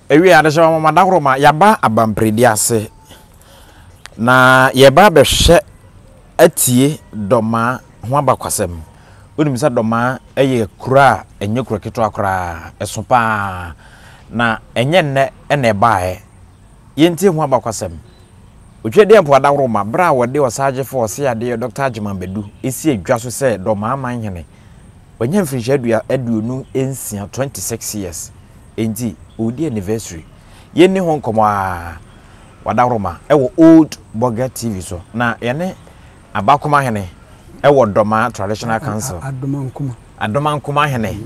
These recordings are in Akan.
Ewiei adesoa nwoma dahorow ma yɛaba abampredi ase, na yɛreba abɛhwɛ atie Dɔmaa ho abakwasɛm. Wonim sɛ Dɔmaa yɛ kuro a ɛnyɛ kuro ketewa koraa, ɛso pa ara, na ɛnyɛ nnɛ na ɛbaeɛ. Yɛntie ho abakwasɛm. Otwadeɛ mpoa dahorow ma berɛ a wɔde Ɔsaagyefo Ɔseadeɛ Dɔkta Agyeman Badu sii dwa so sɛ Dɔmaa Manhene. Wanya mfirinhyia aduonu nsia, 26 years, Enti ɔredi anniversary. Yɛnni ho nkɔmmɔ ara. W'adaworoma wɔ Old Burger TV so na yɛne Abakoma Hene wɔ Dɔmaa Traditional Council. Adomankoma. Adomankoma Hene.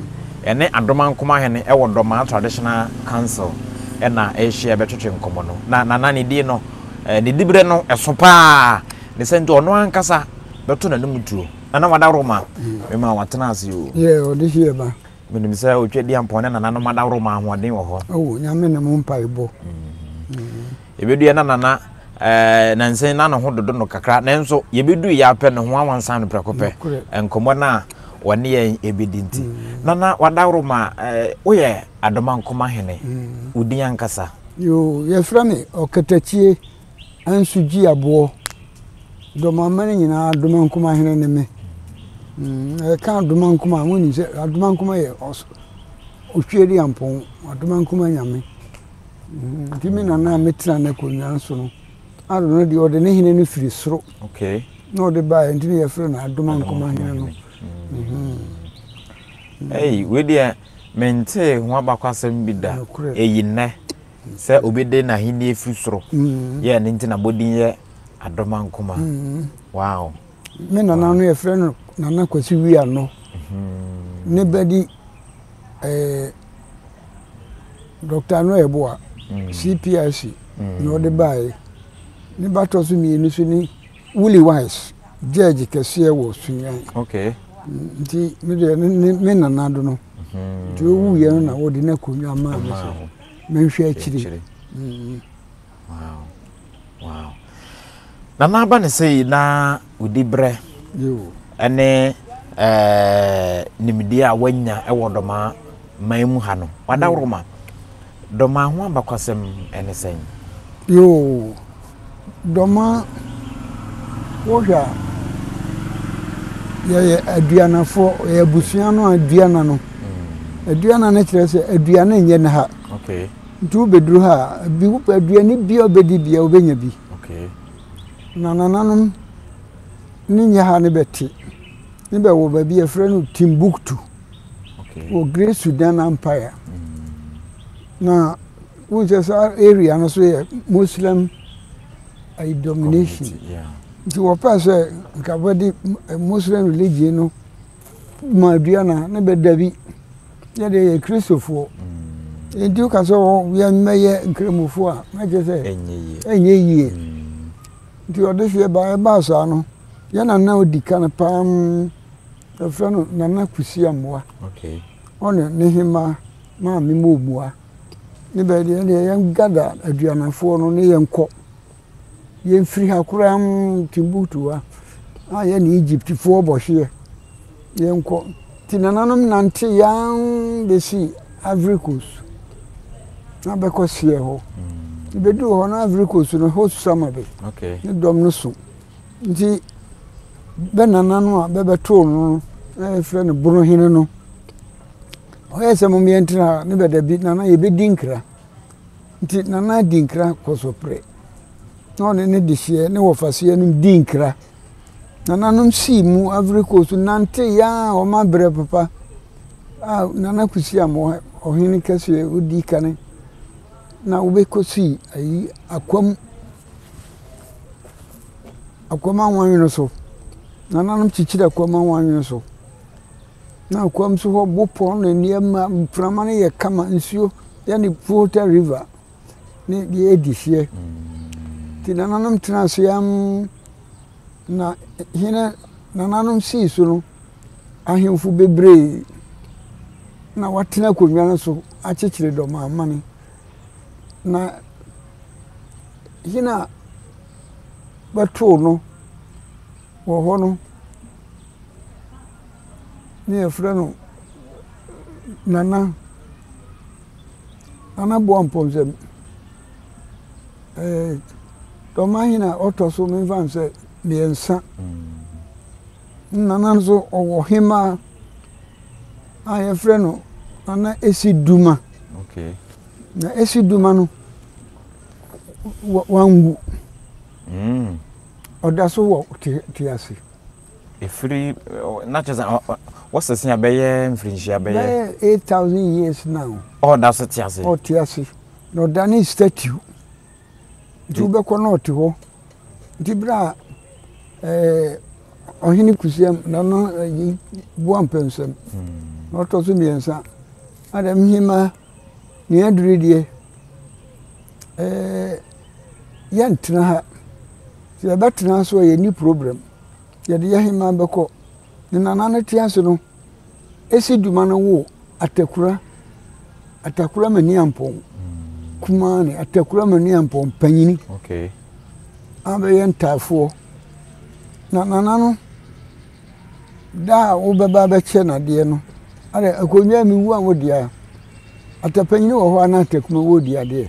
Yɛne Adomankoma Hene wɔ Dɔmaa Traditional Council na ɛrehyia bɛtwetwe nkɔmmɔ no. Na Nana ne din no, ne diberɛ no ɛso pa ara. Ne saa nti ɔno ankasa bɛto n'anum tuo. Nana w'adaworoma, mema wo atena ase o. Yeah, ɔde here ba. Menim sɛ Otwadiampɔn ne Nananom Adaworo ma ahoɔden wɔ hɔ. Oh, Nyame ne mo mpaebɔ. Mm. Ebeduɛ na Nana eh, nansen na ne ho dodo no kakra, nanso yebedu yɛ apɛ ne ho awansan no prɛko pɛ. Nkɔmmɔ no a wɔne yɛn ebedi nti. Mm. Nana wadaworo ma eh, woyɛ Adomankoma hene. Mm. Wodin ankasa. Yo, yɛfrɛ me Ɔkatakyie. nso gyi aboɔ dɔm aman nyinaa adomankoma hene ne me mm, ɛka adomankoma a monim sɛ adomankoma yɛ otwie de ampɔn adomankoma nyame mm, nti me nana a metena no akonnwa so no ado no deɛ ɔde ne hene no firi soro na ɔde baeɛ nti ne yɛfrɛ no adomankoma hene no mm-hmm. ei wedeɛ mentee ho abakwasɛm bi da ɛyi nnɛ Sɛ obi de n'ahenni firi soro yɛ ɛno nti n'abɔdin yɛ Adomankoma. Wow. Me nana no yɛfrɛ no Nana Kwasi Wianɔ. Ne ba di eh, Dr. Ano Ɛboa, CPRC na ɔde baeɛ. Ne ba tɔ so mmienu so ne Willie Wise, Judge kɛseɛ wɔ Sunyani. Okay. Nti me deɛ ne me nana do no. Nti ɔwuiɛ no na wɔde n'akonnwa maa me sɛ. Menhwɛ akyiri. Wow. Wow. Nana aba ne sɛ yi na odi brɛ ɛne ɛɛ eh, nimdeɛ a wanya ɛwɔ dɔmaa man mu ha no wadaworo ma dɔmaa ho abakwasɛm ɛne sɛn. Yoo Domaa, wohwɛ a, yɛyɛ Aduanafoɔ, yɛ abusua no Aduana no. Mm. Aduana no kyerɛ sɛ aduane nyɛ no ha. Okay. Nti wobɛduru ha a, bi wopɛ aduane bi a wobɛdi bia wobɛnya bi. Okay. Na nananom ne nyɛ ha ne bɛte. Ne bɛwɔ baabi a yɛfrɛ no Timbuktu. Okay. Wɔ Great Sudan Empire. Mm. Na Wohu sɛ saa area no so yɛ Muslim ayi domination. Community, yeah. Nti wɔpɛ sɛ nka wɔde eh, Muslim religion no ma dua na ne bɛda bi yɛde yɛ Kristofoɔ. Mm. Nti woka sɛ yɛmmɛyɛ Nkramofoɔ a na kyerɛ sɛ ɛnyɛ yie. Mm. Nti ɔde hyeɛ baa ɛbaa saa no yɛ nana odi kan paa mm, ɛfrɛ no Nana Kusi Amoa. Ɔne ne hemaa maame mu omua. Ne bɛ deɛ ɛnneɛ yɛn gather Aduamanfoɔ no ne yɛn kɔ. Yɛn firi ha koraa umm Timbuktu ha na yɛn ne Egyptfoɔ bɔ hyeɛ. Yɛn kɔ, nti nananom nante yɛn ara bɛ si Ivory Coast na bɛ kɔ seɛ hɔ. Nti bɛ duru hɔ na Ivory Coast no hot summer bɛ. Ne dɔm no so. Nti bɛ nananom a bɛ bɛ too no no na yɛ frɛ no Bonohene no. Ɔyɛ sɛ mom yɛntena ha. Ne ba dabi nana yɛbɛdi nkra. Nti nana di nkra kɔ so pere. Na ɔne ne dehyeɛ ne wɔfasoɛ nom di nkra. Nana nom sii mu avere kɔɔ su nante yaa wɔn abrɛ papa a nana kusi am ɔhene kɛseɛ odi kane na wobɛkɔ sii ayi akwam akwam anwanwene so. Nananom kyekyere akwam anwanwene so. Na kwam nso hɔ bopɔn na nneɛma mframa no yɛ kama nsuo yɛ ne volta river ne deɛ ɛdi hyeɛ nti nananom tena ase am na hene nananom sii so no ahemfo bebree na watena akonnwa no so akyekyere dɔm amane na hene a bɛtoo no wɔ hɔ no ne yɛfrɛ no Nana, Nana Boampɔn sɛ ɛɛ dɔmahene a ɔtɔ so memfa no sɛ mmiɛnsa. Mm. Nana nso ɔwɔ hemaa a yɛfrɛ no Nana Esi Duma. Okay. Na Esi Duma no wanwu. Mm. Ɔda so wɔ te ase. Ɛfiri na kyerɛ sɛ wɔsese a bɛyɛ mfirinhyia bɛyɛ. Bɛyɛ eight thousand years now. Ɔda so te ase. Ɔte ase na ɔda ne statue nti wobɛkɔ na ɔte hɔ nti bere a ɛɛ ɔhene kusiam na ɔno ɛyi boa mpɛnsɛm hmm. na ɔtɔ so mmiɛnsa adam hema nea aduru deɛ ɛɛ. yɛntena ha sɛ yɛbɛtena nso a yɛnni problem yɛde yɛ heman bɛkɔ ne nana no te ase no ɛsi dwuma no wo atakura atakura mani ampɔn kumaa ne atakura mani ampɔn panyini okay. abɛyɛ ntaafoɔ na nana no da a wobɛba bɛkyɛ nadeɛ no ada akonnwa mewu a wodeɛ a atapanyini wɔ hɔ a na atakuma wɔ di adeɛ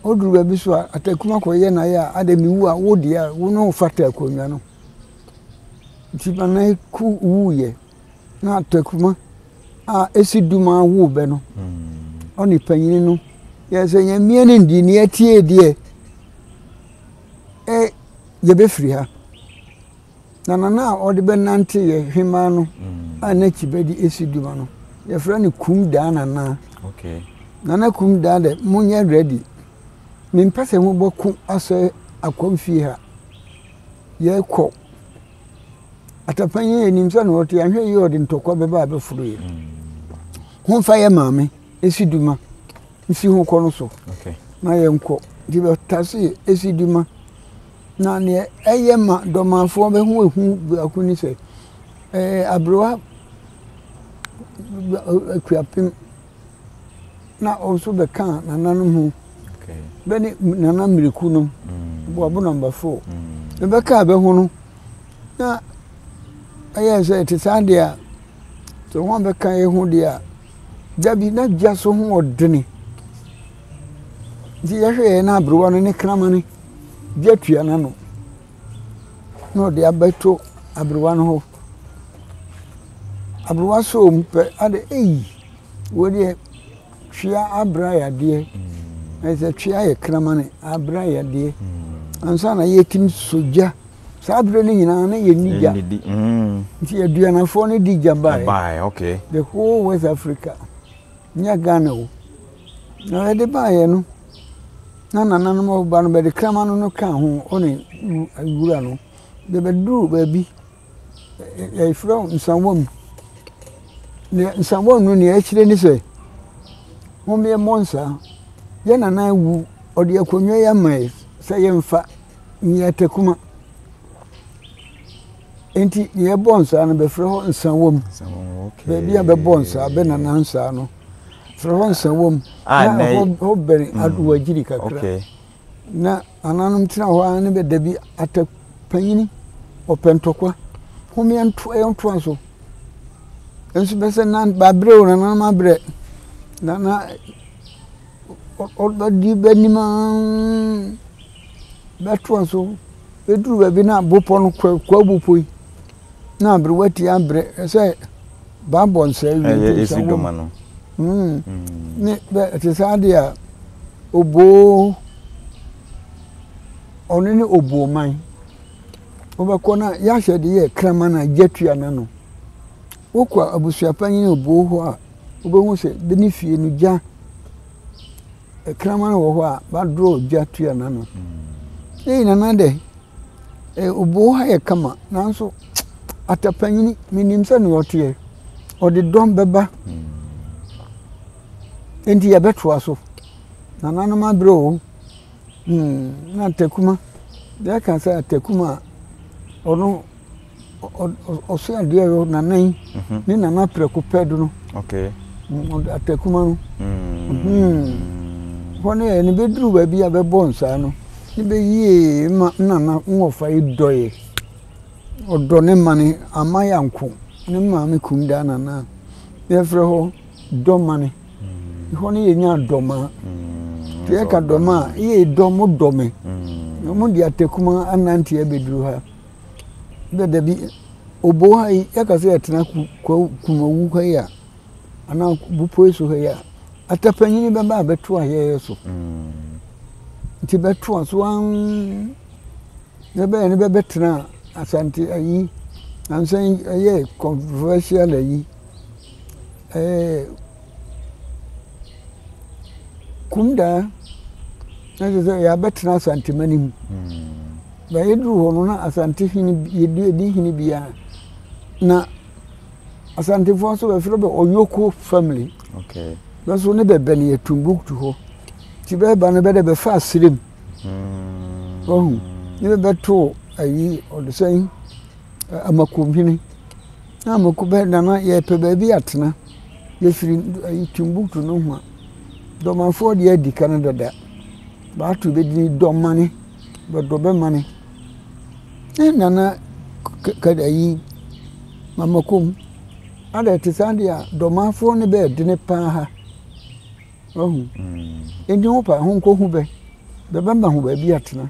Ɔduru baabi so a Atakum akɔyɛ n'ayɛ a adɛ mewu a wo deɛ a wo ne wo fata akonnwa no nti ma na ku wuyɛ na Atakuma a ɛsi duma wo bɛ no hmm. ɔne panyini no yɛ sɛ nyamea no ndi ne atie deɛ ɛ yɛbɛfiri ha Na nana a ɔde bɛnante yɛ hwemmaa no a na Kibadi si dwuma no, yɛfrɛ no Kum Daa Nana. Nana Kum Daa dɛ, monyɛ ready. Mempɛ sɛ mobɔko asɔe Akwam fie ha. Yɛkɔ. Atapanyin, yɛnim sɛ na ɔte, yɛanhwɛ yie a ɔde ntɔkwa bɛba abɛforo yɛn. Mm. Ho mfa yɛ maame, esi duma, nsi ho kɔ no so. Na yɛnkɔ. Nti bɛtase esi duma. Na nea ɛyɛ ma dɔmanfoɔ ho hu biako ne sɛ, ɛyɛ aberewa akuapem na ɔno nso bɛkaa nananom ho. Bɛ ne Nana Miriku no, Boabo Number Four. Na bɛkaa bɛ ho no, na ɛyɛ sɛ ɛte saa deɛ a, sɛ wɔn a bɛka yɛ ho deɛ a, da bi na dwa so ho ɔdene. Nti yɛhwɛ yɛ na aberewa no ne kramane. gye atua no ano na ɔde abɛto aberewa no hɔ. Aberewa sɔ mu pɛ, ade ei, wei deɛ twea abrɛ ayɛ adeɛ. Ɛyɛ sɛ twea yɛ kramane abrɛ ayɛ adeɛ. Mm. Ansa na yɛtim so gya. Saa berɛ no nyinaa na yɛnni gya. Mm. Nti aduanafoɔ no di gya baeɛ. The whole West Africa. Nyɛ Ghana o. Na ɔde baeɛ no, na nananom ɔba no bɛde kraman no ka ho ɔne wura no. De bɛduruu baabi, yɛfrɛ wo nsawam mu. Na nsawam no deɛ ɛkyerɛ ne sɛ, mommɛmmɔ nsa, yɛn nana awu, ɔde akonnwa yi ama yɛn sɛ yɛmfa nyɛ takuma. Enti deɛ ɛbɔ nsa no bɛfrɛ hɔ nsawam. Baabi a bɛbɔ nsa, bɛ nana nsa no. Frɔwɔnsa wɔ mu a ɛnɛ yɛ. Na hɔ bɛn Adowagyiri kakra. Okay. Na ananom tena hɔ ara ne bɛ da bi ata panyini ɔpɛ ntɔkwa. Hom yɛnto yɛntoa so. Nso bɛ sɛ na bɛabrɛ o nananom abrɛ. Na na ɔbɛdi bɛnim ara bɛtoa so bɛduru baabi na bopɔ no kwabu po yi. Na aberewa ti abrɛ sɛ baabɔ nsɛe wie nti nsɛm wɔ mu. No. Mm. Mm. Ne bɛ ɛte sɛ adeɛ a oboo ɔno ne oboo man wobɛkɔ no a yɛahyɛ de yɛ kraman a gya tua no ano wokɔ abusuapanyin oboo hɔ a wobɛhu sɛ bɛ ne fie no gya Kraman wɔ hɔ a, bɛadrɔ gya tua no ano. Ne nyinaa no adɛ, obi wɔ hɔ ayɛ kama nanso atapanyini menim sɛdeɛ ɔteɛ, ɔde dɔm bɛba. Enti yɛbɛtoa so. Nananom aberɛ o, na Takuma, yɛka sɛ Takuma a, ɔno ɔsɛ adeɛ yɛ nanan ne nana prɛko pɛ do no atakuma no hɔ no yɛ ne bɛduru baabi a bɛbɔ nsaa no ne bɛyie ma nana nwɔfa yi dɔɛ ɔdɔ ne ma no ama yanko ne maame kumdaa nana yɛfrɛ hɔ dɔmane hɔ no yɛ nyaa dɔma nti yɛka dɔma a yɛ dɔ mo dɔ me mo de atakuma ananteɛ bɛduru ha dɛ dɛbi obow ha yi yɛka sɛ yɛtsena Kumawu ha yi a anaa Bepɔw Esuo ha yi a, atapɛnyin bɛba abɛto ayɛyɛ so. Ntsi bɛto a so ann dɛ bɛyɛ no bɛbɛtsena Asante ayi, ansan yɛɛ controversial ayi. Ɛɛ Kumdaa na kyerɛ sɛ yɛabɛtena Asantemani mu. Na yɛduru hɔ no na Asante hene yɛdi hene bi a na Asantefoɔ nso bɛfrɛ bɛ Ɔyoko family. Okay. Bɛso ne bɛbɛ no yɛ Tumbuktu hɔ. Nti bɛba no bɛdɛ bɛfa aserem. Hmm. Wahu ne bɛbɛto ayi ɔdesɛn Amakohene, na amako bɛ na na yɛpɛ baabi atena. Yɛfiri Timbuktu nohoa. Dɔmanfoɔ deɛ adi kan dada. Bɛato bɛ din Dɔmane, bɛdɔ bɛ mane. Ɛɛ Nana ayi Amakom, adɛ ɛte saa deɛ a, Dɔmanfoɔ ne bɛ ɛdene pa ara. Wahu? Nti wo pɛ a, ho nkɔhu bɛ. Bɛbɛma ho baabi atena.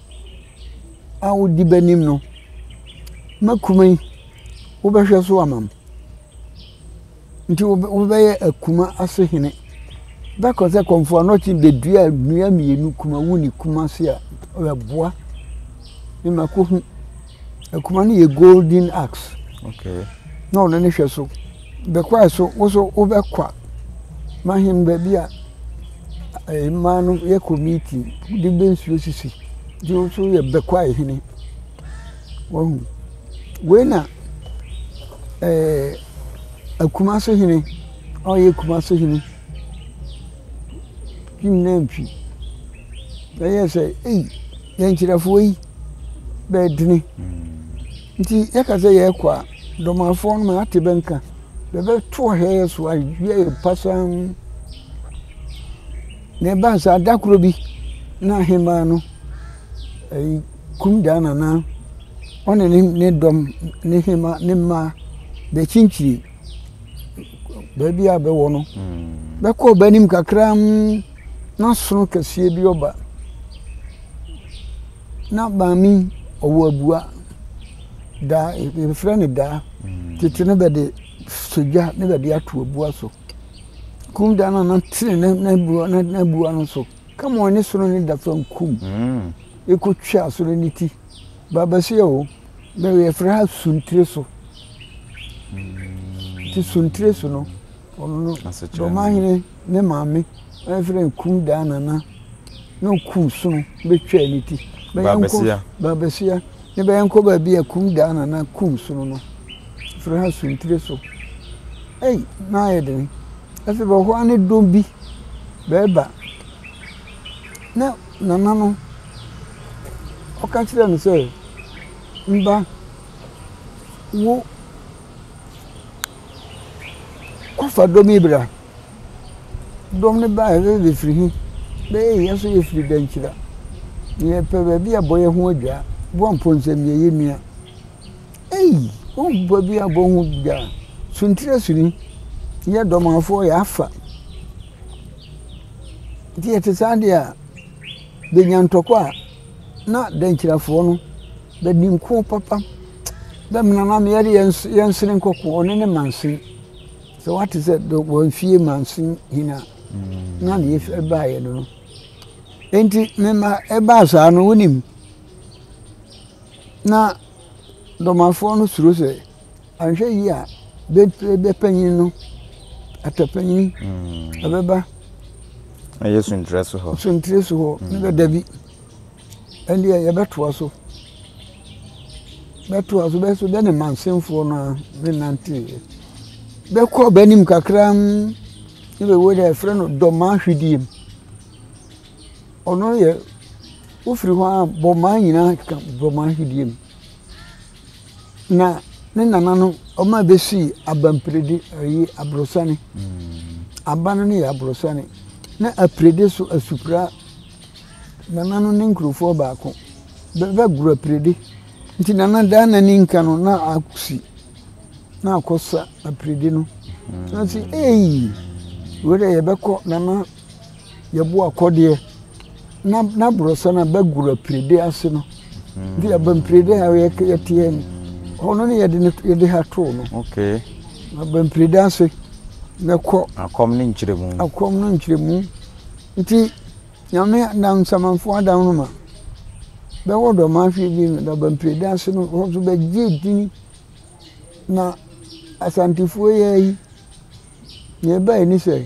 a ɔdi bɛnim no mɛkuma yi wobɛhwɛ so ama me nti wobɛyɛ akuma ase hene bɛkɔ sɛ kɔmfoɔ anɔkye bɛdua nnua mmienu kumawu ne kumase a ɔyɛ boa ne makɔhu Akuma no yɛ golden axe. Okay. Na ɔno ne hwɛ so. Bɛkwae so wo so wobɛkwa mahem baabi a eh, mmaa no yɛ kɔ meeting de bɛ nsuo sisi de wo so yɛ bɛkwae hene wahu wei na eh, akuma so hene ɔyɛ akuma so hene kim na ntwi ɛyɛ sɛ ei Yɛn nkyerɛfoɔ yi bɛdene. Nti yɛka sɛ yɛrekɔ a, Dɔmafoɔ no ma ate bɛ nka. Bɛbɛto ɔhɛ yɛ so awie yɛ pasaa mu. Na ɛbaa saa, da koro bi na ahemaa no ɛyi kum daa nana ɔne ne ne dɔm ne hema ne mmaa bɛkyinkyini. baabi a bɛwɔ no, bɛkɔ bɛ anim kakra mm, na sono kɛseɛ bi ɔba. Na maame yi ɔwɔ abua, daa, yɛfrɛ no daa. Tete no bɛde sɔ gya na bɛde ato abua so. Kum daa no a na tene n'abua no so, kama ɔne sono no da fam kum, ɛkɔtwa sono no ti. Babasia o, na yɛfrɛ ha suntireso. Nti suntireso no, ɔno no Dɔmahene ne maame na yɛfrɛ no Kudaa Nana na ɔku sono bɛtwaa ne ti. Babasia. Babasia. Ne bɛyɛnkɔ baabi a Kudaa Nana ku sono no, yɛfrɛ ha suntireso. Ei, na ayɛ dene. Afei bɛhɔ a ne dɔm bi bɛɛba. Na Nana no, ɔka kyerɛɛ no sɛ, Mma wo kɔfa dɔm yi bra. Dɔm no baeɛ sɛ bɛfiri he? Bɛyɛɛ yɛ so yɛfiri Dankyira. Yɛpɛ baabi a bɔyɛ ho adwaa. Boa mpɔnsam yɛ yɛ nua. Ei! Wohu baabi a bɔ ho dwaa? Suntire Suni, yɛ dɔm afoɔ yɛafa. Nti ɛte saa deɛ a, bɛnya ntɔkwa a na dɛnkyirafoɔ no bɛdi nko papa. Dɛ me nana me yɛde yɛnsene nkɔko ɔne ne mansin. Sɛ wate sɛ wɔmfie mansin hin a na ne yɛfɛ baeɛ no no. Nti mema ɛbaa saa no wonim na dɔmafoɔ no suro sɛ Anhwɛ yie a, bɛ panyin no, atɔ panyin, ɔbɛba. Ɛyɛ sunkyerɛ so hɔ. Sunkyerɛ so hɔ, ne bɛ dabi. Ɛndeɛ yɛbɛtoa so. Bɛtoa so, bɛso bɛ ne mansenfoɔ no a ne nanteeɛ. Bɛkɔ bɛ anim kakra ne bɛ wɔ dɛ yɛfrɛ no Dɔmaa hwidiem. Ɔno yɛ, wofiri hɔ a Bɔmaa nyinaa ka Dɔmaa hwidiem. na ne nananom wɔn a bɛsii aba mpiredi ɛyi aborɔsane aba no ne yɛ aborɔsane na apiredi so asupira nana no ne nkurofoɔ baako bɛbɛ goro apiredi nti nana daa n'ani nka no na akusi na akɔsa apiredi no na si eyi wei deɛ yɛbɛkɔ nana yɛboa akɔdeɛ na na borɔsa no aba gura pirede ase no nti yɛba mpirede a yɛteɛ no hɔ no ne yɛde no yɛde ha too no okay aba mpirede ase na kɔ akɔm ne nkyerɛmu akɔm no nkyerɛmu nti nyame nam nsamanfoɔ adam no ma bɛwɔ dɔma ahwe bi no na aba mpirede ase no hɔ nso bɛgye dini na asantefoɔ yɛ yi nea ɛbae ne sɛ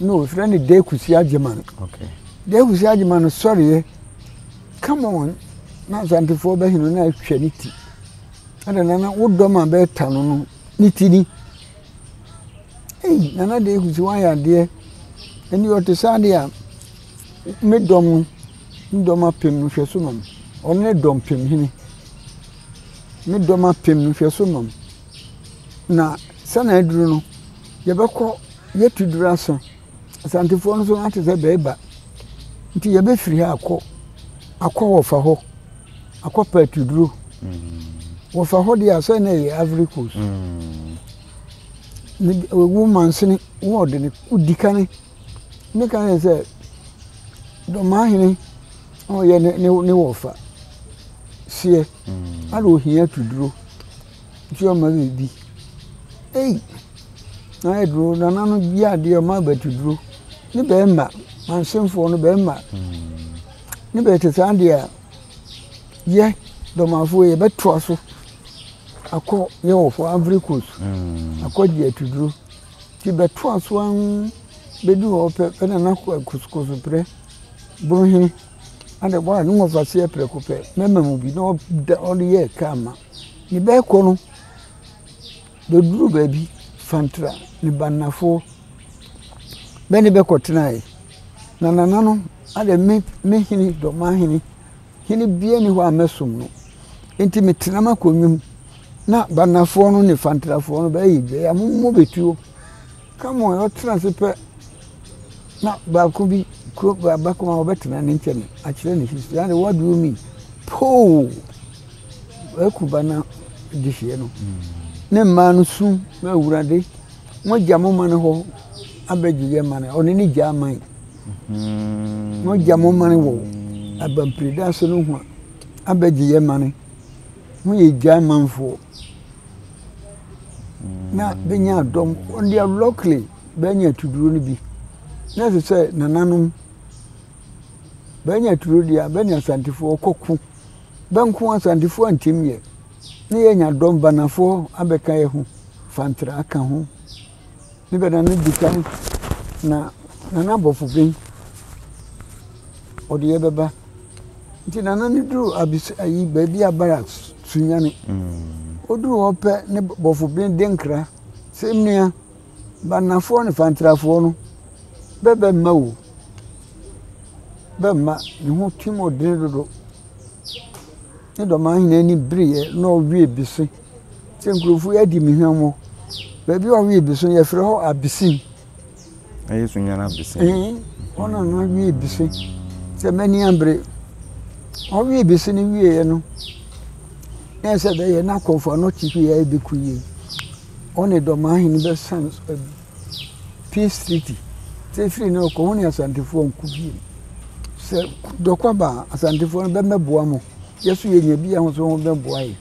na wɔfrɛ no dekusi agyeman dekusi agyeman no sɔreɛ come on na asantefoɔ bɛhene no atwa ne ti ɛna nana wo dɔm a bɛɛta no no ne ti ni ei nana dekusi wayɛ adeɛ ɛni ɔte saa deɛ a me dɔm no me dɔm apem no hwɛ so nom ɔno ne dɔm pem hene me dɔm apem no hwɛ so nom Na sɛnea aduru no, yɛbɛkɔ yɛatu duru asa. Asantefoɔ no nso na te sɛ bɛɛba. Nti yɛbɛfiri ha akɔ akɔ wɔfa hɔ akɔ pɛ atuduro. Wɔfa hɔ deɛ asɛ na ɛyɛ Ivory Coast. Ne wo mansini wo ɔde ne wodi kane ne ka yɛ sɛ dɔmahene ɔyɛ ne ne ne wɔfa seɛ. Ana ohia atuduro. Nti ɔma me bi. Ei! Na ayɛ duro, nana no gye adeɛ ɔma abati duro. Ne bɛrima, mansenfoɔ no bɛrima. Ne bɛyɛ te saa deɛ a, yɛ dɔmafoɔ yɛbɛtoa so akɔ yɛ wɔ fɔ Ivory Coast. Hmm. Akɔ gye atuduro. Nti bɛtoa so an bɛdu hɔ pɛ pɛ na na kosokoso prɛ boro hene. Ade bɔ a ne wɔfa seɛ prɛko pɛ, mɛma mu bi na ɔde yɛ kaa ma. Ne ba rekɔ no, bɛduruu baabi fantraa ne banafoɔ bɛ ne bɛ kɔtenaeɛ. Na nananom adɛ me me hene dɔmahene, hene biara nni hɔ a mɛsom no, enti metena m'akonnwa mu. Na banafoɔ no ne fantrafoɔ no bɛyɛ dua yi a, mommɔ bɛ tuo. Come on, ɔtena ase pɛ na baako bi kuro baako a ɔbɛtena ne nkyɛn akyerɛ ne sisi na de what do you mean poo ɛku ba na de hyɛ no ne mmaa no su na awurade mo gya mo ma no hɔ abɛgye yɛ ma no ɔne ne gya ama yi mo gya mo ma no wɔ abampirida so no ho abɛgye yɛ ma no Mo yɛ gyae manfoɔ na bɛnya adɔm on their luckily bɛanya atuduro no bi na ɛsɛ sɛ nananom bɛanya atuduro deɛ a bɛne asantefoɔ kɔko bɛnko asantefoɔ antim yɛ na yɛanya dɔm banafoɔ abɛka yɛ ho fantere aka ho ne bɛ na ne di kan na Nana Abɔfoben ɔde yɛ bɛba nti Nana no duru abis ayi baabi a Barak Sunyani ɔduru hɔ pɛ ne Bɔfoben de nkra sɛ mmea Bannafoɔ ne Fantrafoɔ no bɛ bɛ mma o bɛ mma ne ho twi mu ɔdene dodo ne Dɔmahene ani bereɛ na ɔwe bese. sɛ nkurɔfoɔ yi adi me hwammɔ. Baabi a wɔwe abisi no, wɔfrɛ hɔ Abisin. Na Yesu nyan Abisin? Ee, hɔ na na wɔwe abisi. Sɛ m'ani ambere, wɔwe abisi no wieeɛ no, na ɛsɛ sɛ bɛyɛ na akɔmfo ano te hwee a ɛbɛku yie. Ɔne Dɔmaa hene bɛsan so abi. Peace Treaty. Sɛ ɛfiri no rekɔ, ho ne Asantefoɔ anku bio. Sɛ dɔkɔ ba a, Asantefoɔ no bɛmmɛboa mo. Yɛ nso yɛnya bi a, ho nso ho bɛboa yɛn.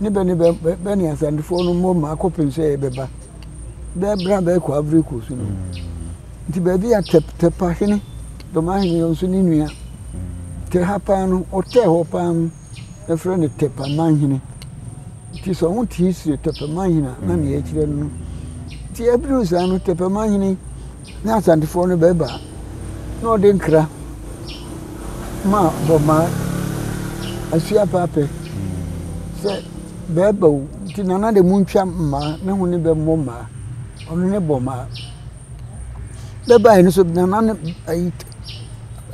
ne bɛ ne bɛ bɛ ne Asantefoɔ no mmom ma akɔpem sɛ yɛbɛba. Bɛɛ berɛ a bɛrekɔ Ivory Coast no. Mm. Nti baabi a Tɛpa hene, Dɔma hene yɛ nso ne nua. Mm. Tɛ ha paa no, ɔtɛɛ hɔ paa no, ɛfrɛ no Tɛpa manhene. Nti sɛ ɔho te history Tɛpa manhene a, na ne yɛkyerɛ no. Nti ɛbiri saa no Tɛpa manhene Na Asantefoɔ no bɛba na wɔde nkra ma Bɔmmaa, Asuapaapɛ, sɛ bɛba o, nti Nana de montwa mmaa na ho ne bɛmmɔ mmaa, ɔno ne Bɔmmaa. Bɛbaeɛ no nso Nana ne ayi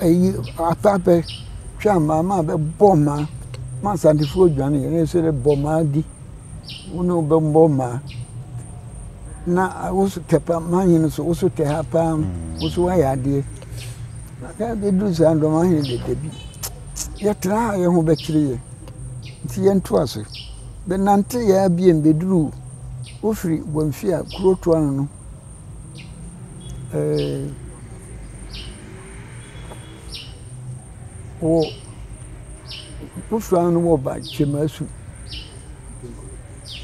ayi Apaapɛ twaa mmaa ma bɛbɔɔ mmaa ma Asantefoɔ dwaneeɛ na ɛsɛ dɛ Bɔmmaa di. Wo ne wo bɛbɔ mma. Na wo so tɛ pa mahene so wo so tɛ ha paa wo so woayɛ adeɛ na bɛduru saa dɔm ahene de dabi yɛtena ha yɛ ho bɛkyere yɛ nti yɛnto ase bɛnante yɛa biom bɛduru wofiri bɔmfia kuro toa no no ɛɛ wɔ Botswana no wɔ ba Kyemasu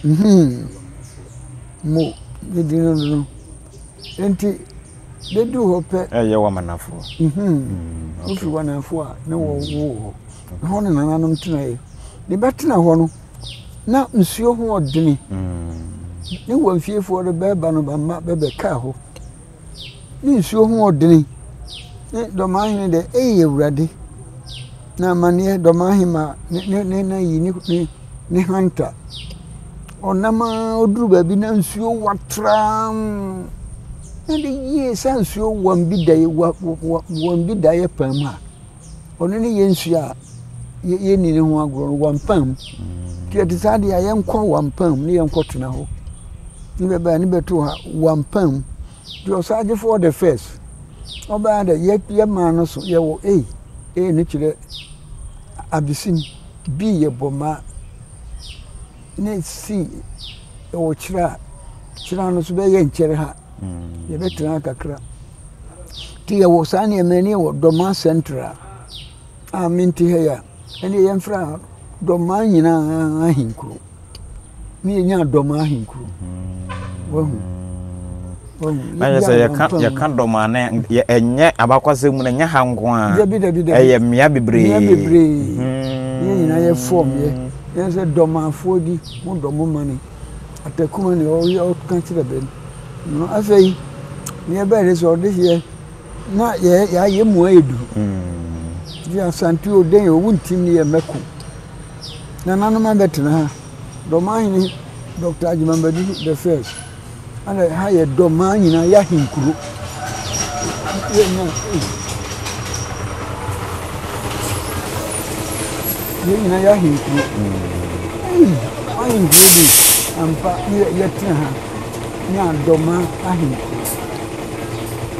hmm mo ne din no no nti bɛduru hɔ pɛ. Ɛyɛ wɔ Amanafoɔ. Wofi wɔ Amanafoɔ a na wɔwoo hɔ. Ɛhɔ na nananom tenaeɛ. Ne bɛtena hɔ no na nsuo ho ɔdene. Ne wɔn fiefoɔ no bɛreba no ba mma bɛbɛkaa hɔ. Ne nsuo ho wɔ dene. Ne dɔmahene deɛ ei Awurade. Na amaneɛ dɔmahema ne ne ne ayi ne ne hanta. Ɔnam ara ɔduru baabi na nsuo wa tram. Na de yie saa nsuo wam bi da wɔ wɔ wɔn bi daeɛ paa mu a. ɔno ne yɛn nsuo a yɛnni ne ho agorɔ no wampam nti ɛte saa deɛ a yɛnkɔ wampam ne yɛnkɔ tena hɔ ne bɛbɛa ne bɛto ha wampam nti ɔsaadefoɔ the first ɔbɛa dɛ yɛmaa no so yɛwɔ ei ei no kyerɛ abesim bi yɛ bɔma ne si ɛwɔ kyerɛ a kyerɛ no so bɛyɛ nkyɛre ha yɛbɛtena kakra Nti yɛwɔ saa nneɛma yi na yɛwɔ Dɔmaa Central a mente ha yi a, ɛnneɛ yɛmfrɛ no Dɔmaa nyinaa ahenkuro ne yɛnya Dɔmaa ahenkuro. Wahu? Wahu? Ayɛ sɛ yɛka yɛka Dɔmaa no ɛnyɛ abakɔsɛm mu no ɛnyɛ ha nko a. Dabi dabi dabi. Ɛyɛ mmea bebree. Mmea bebree. Hmm. Ne nyinaa yɛ fɔm yɛ. Yɛn sɛ dɔmaafoɔ di mo dɔm ma no. ɔpɛ kuma ne ɔyɛ ɔka kyerɛ bɛ no afei neɛ ɛbɛɛ de sɛ ɔde yɛ na yɛayɛ mu ayɛ duru nti hmm. asante o dɛn o wontim ne yɛ mɛko nananom abɛtena ha dɔmahene dr agyemambadu the first Ana ha yɛ dɔ maa nyinaa yɛ ahenkuro. Yɛ nyinaa yɛ ahenkuro. Ahenkuro bi ampa yɛtena ha ne adɔma ahenkuro.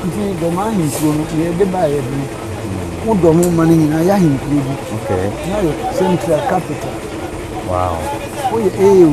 Nti dɔma ahenkuro no na yɛde baa yɛ bene. Wo dɔ ho ma no nyinaa yɛ ahenkuro bi. Na yɛ central capital. Wow. Woyɛ AU.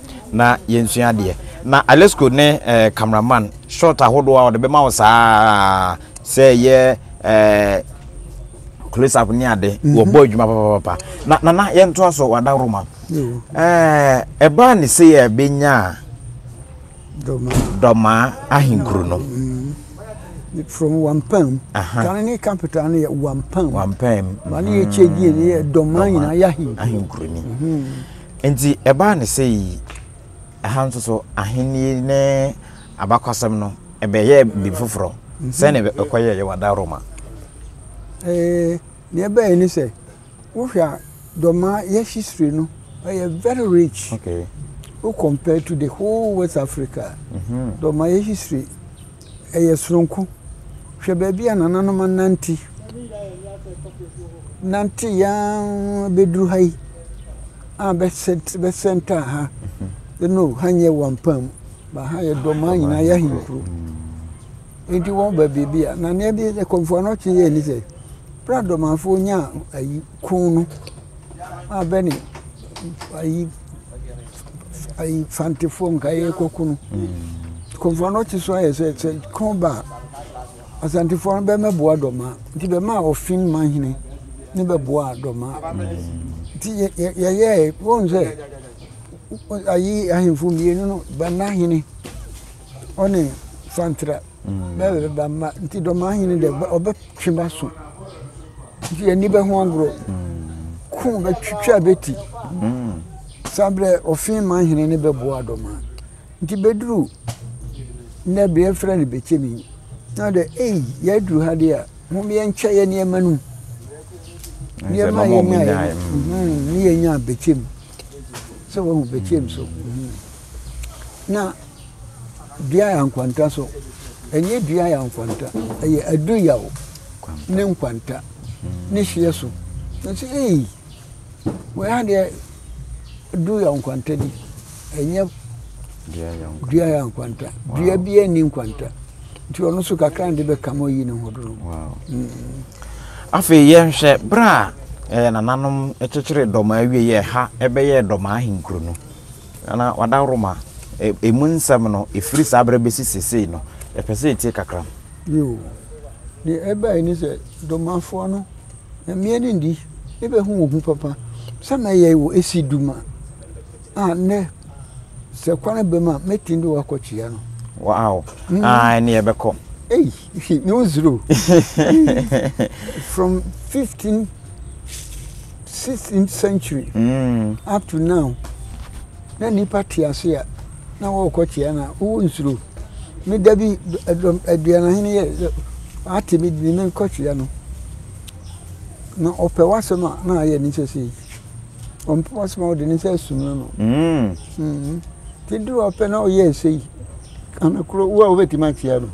na yɛnsua adeɛ. Na Alesko ne eh, camera man shot ahodoɔ a ɔde bɛma wo saa sɛ yɛ eh, close up ne ade mm -hmm. wɔbɔ adwuma papapapa na nana yɛntoa so wada roma eh, ɛbaa ne sɛ yɛ bɛnya dɔmaa ahenkuro no mm. from wampam kane ne capital no yɛ wampam wampam wane yɛ kyɛ die ne yɛ dɔmaa nyinaa yɛ ahenkuroni Enti ɛbaa ne sɛ yi, ɛha nso so, ahenni ne abakɔsɛm no, ɛbɛyɛɛ biribi foforɔ sɛ ne ɛkɔyɛeɛ wɔ ada Roma. Ee, ne ɛbɛyɛ ne sɛ, wohwɛ a, Dɔmaa yɛ history no, ɛyɛ very rich. Okay. Wo compare to the whole West Africa, mm-hmm. Dɔmaa yɛ history Ɛyɛ soronko. Hwɛ baabi a nananom anante nanteeɛ ara bɛduru ha yi a bɛsɛntaa ha. You know, ha nyɛ Wampam, but ha yɛ Dɔmaa nyinaa yɛ ahenkuro. Enti wɔba baabi a, na nea ɛde kɔmfoɔ no ɔtwe yɛn ni sɛ, berɛ a Dɔmaafoɔ nyaa ayi Kun no abɛ ne ayi ayi fantefoɔ nka yɛrekɔko no kɔmfoɔ no te so ayɛ sɛ sɛ ko ba a asantefoɔ no bɛmɛboa dɔma nti bɛma a ɔfin ma hene ne bɛboa dɔma nti yɛyɛɛ wɔn sɛ ayi ahemfo mmienu no bɛma hene ɔne santra bɛba bɛba mma nti dɔmaa hene dɛ ɔbɛtwe bɛaso nti ani bɛho agorɔ ko bɛtwitwa bɛti saa berɛ ɔfe ma hene ne bɛboa dɔmaa nti bɛduru nnɛ berɛ yɛfrɛ no bɛkyɛmi na ɔdɛ ei yɛaduru ha deɛ a mom yɛnkyɛ yɛ nneɛma no nneɛma yɛnyaeɛ ne yɛnya bɛkyɛm sɛ wahu bɛkyɛm so na dua yɛ nkwanta so ɛnyɛ dua yɛ nkwanta ɛyɛ adu yaw ne nkwanta ne hyeɛ so nso ee wei adeɛ du yɛ nkwanta bi ɛnyɛ dua yɛ nkwanta dua bi ɛni nkwanta nti ɔno nso kakra de bɛka ma ɔyi ne ho do no mm. afei yɛnhwɛ berɛ a eh, nananom kyekyere dɔm awie yɛ ha ɛbɛyɛ dɔm ahenkuro no Ana wada Roma emu nsɛm no ɛfiri saa berɛ bɛsi seesei no? Yɛpɛ sɛ yɛtie kakra. Bio, deɛ ɛbaeɛ ne sɛ, Domafoɔ no, Nyame ani nnye, yɛbɛhu wo ho papa, sɛ mɛyɛe wo asi dum a, a nnɛ, sɛ kwane bam a, mɛtumi de wo akɔ kyea no. Wow! Ah, ɛne yɛbɛkɔ. Ei, no zero. From 15. 16th century mm. up to now na nipa te ase a na wɔkɔ kyea na wowɔ nsuro me da bi aduanahene yɛ ate me de me kɔ kyea no na ɔpɛ w'asɛm a na ayɛ ne sɛ sei ɔmpɛ w'asɛm a ɔde ne sɛ asum no no mm. mm. te duru ɔpɛ na ɔyɛ ɛsei anakoro wo a wobɛtumi akyea no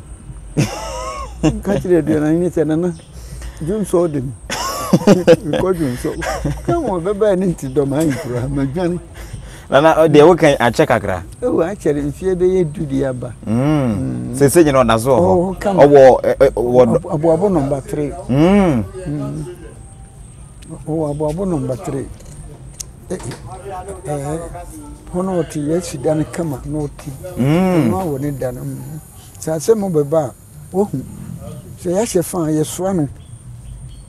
ka kyerɛ aduanahene sɛ nana Dwonsɔ de me. Mekɔ dwonsɔ. Kan wɔn bɛbɛɛ ne nti dɔm ayi kura ma dwane. Nana ɔde ɛwo kan akyɛ kakra. Ɛwɔ akyɛ de nfie bɛyɛ du de aba. Sese nyina ɔda so wɔ hɔ. Ɔwɔ wɔ aboabo nɔmba three. Ɔwɔ aboabo nɔmba three. Ɛɛ hɔ na ɔte yɛ si dan kama na ɔte. Ɛno awɔ ne dan. Sɛ asɛm bɛba a. Wahu, sɛ yɛahyɛ fã a, yɛsoa no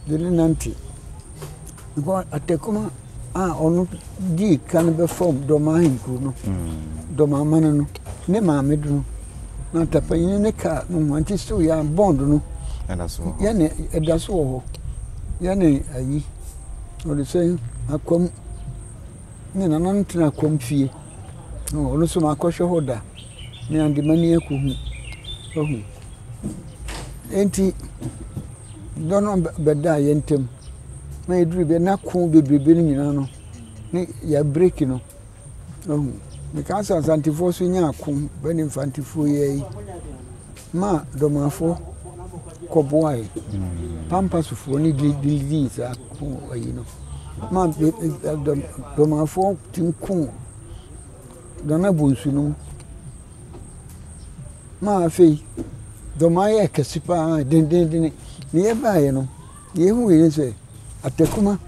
de no nante. Because Atakuma a ɔno dii kan bɛfam Dɔmaa Ahenkuro no, Dɔmaa Mane no, ne maame de no, na Atapanyini ne kaa no ho, nti still yɛn a bond no, yɛne ɛda so wɔ hɔ. Yɛne ayi, wɔde sɛ Akwam, me nana no tena Akwam fie, ɔno nso makɔhwɛ hɔ da. na yɛde ma no yɛkɔ hu wahu enti dɔ no bɛda yɛn ntam na yɛduru bɛ na ko bebrebe no nyinaa no ne yɛ break no wahu meka sɛ asantefoɔ so nya ako bɛne mfantefoɔ yi ayi ma dɔmafoɔ kɔboae pampasofoɔ ne didii saa ko ayi no ma dɔmafoɔ tumi koo Dɔn abɔ nsu no mu ma afei dɔn no ayɛ kɛse paa dendenndene. Na yɛbaeɛ no, deɛ yɛhuiɛ ne sɛ atakuma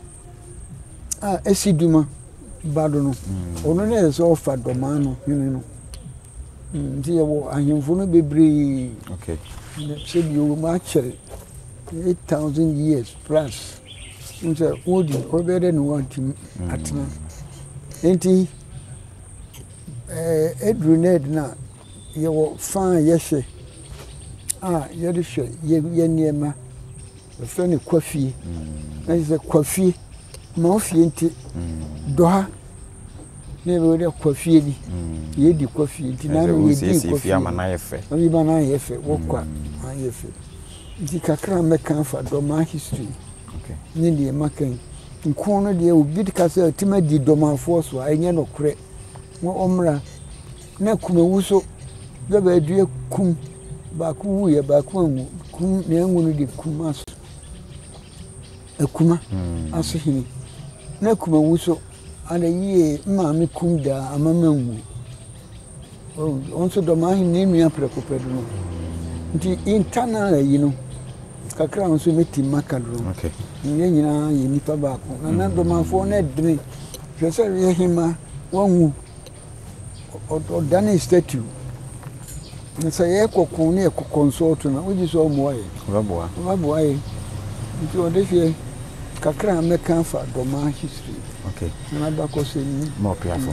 a ɛsi duma ba do no, mm. ɔno na ɛsɛ sɛ ɔfa dɔmaa no hene no mm, nti yɛwɔ ahemfo no bebree sɛ deɛ ɔwɔ mu akyɛre 8000 years plus sɛ wodi ɔbɛyɛ dɛ ne wɔntumi mm. atena nti Eduru no adu no a, yɛwɔ fa a yɛhwɛ a yɛde hwɛ yɛn nneɛma. Wɔfrɛ no kwa fie. Na kyerɛ sɛ kwa fie, ma wo fie nte. Dɔ ha na yɛbɛyɛ dɛ kwa fie bi. Yɛdi kwa fie nti na ano yɛdi kwa fie. Ama no ayɛ fɛ. Oyi ma no ayɛ fɛ. Wɔ kwa ayɛ fɛ. Nti kakra a mɛka afa dɔ ma history ne deɛ maka yi. Nko no deɛ obi ka sɛ ɔtim adi dɔmafoɔ so a ɛnyɛ nokorɛ na ɔmmra na kumawu so dɛ bɛadua kum baako wuiɛ baako anwu kum na anwu no de kum aso akuma hmm. aso hene na kumawu so ada yie maame kum daa ama manwu Wɔn nso dɔm ahenni nua prɛko pɛ do no nti yɛnta no ara yi no kakra nso mɛtim maka do no yɛn nyinaa yɛ nnipa baako na na dɔmafoɔ no ɛdene hwɛ sɛ yɛ hema wanwu ɔdane statue na sɛ yɛkɔ ko ne yɛkɔ consult no wogye sɛ ɔmmoa yɛ ɔbɛboa yɛ nti ɔde hwɛ kakra mɛka fa dɔma history okay. na mabakɔ sɛ ni mɔpeafo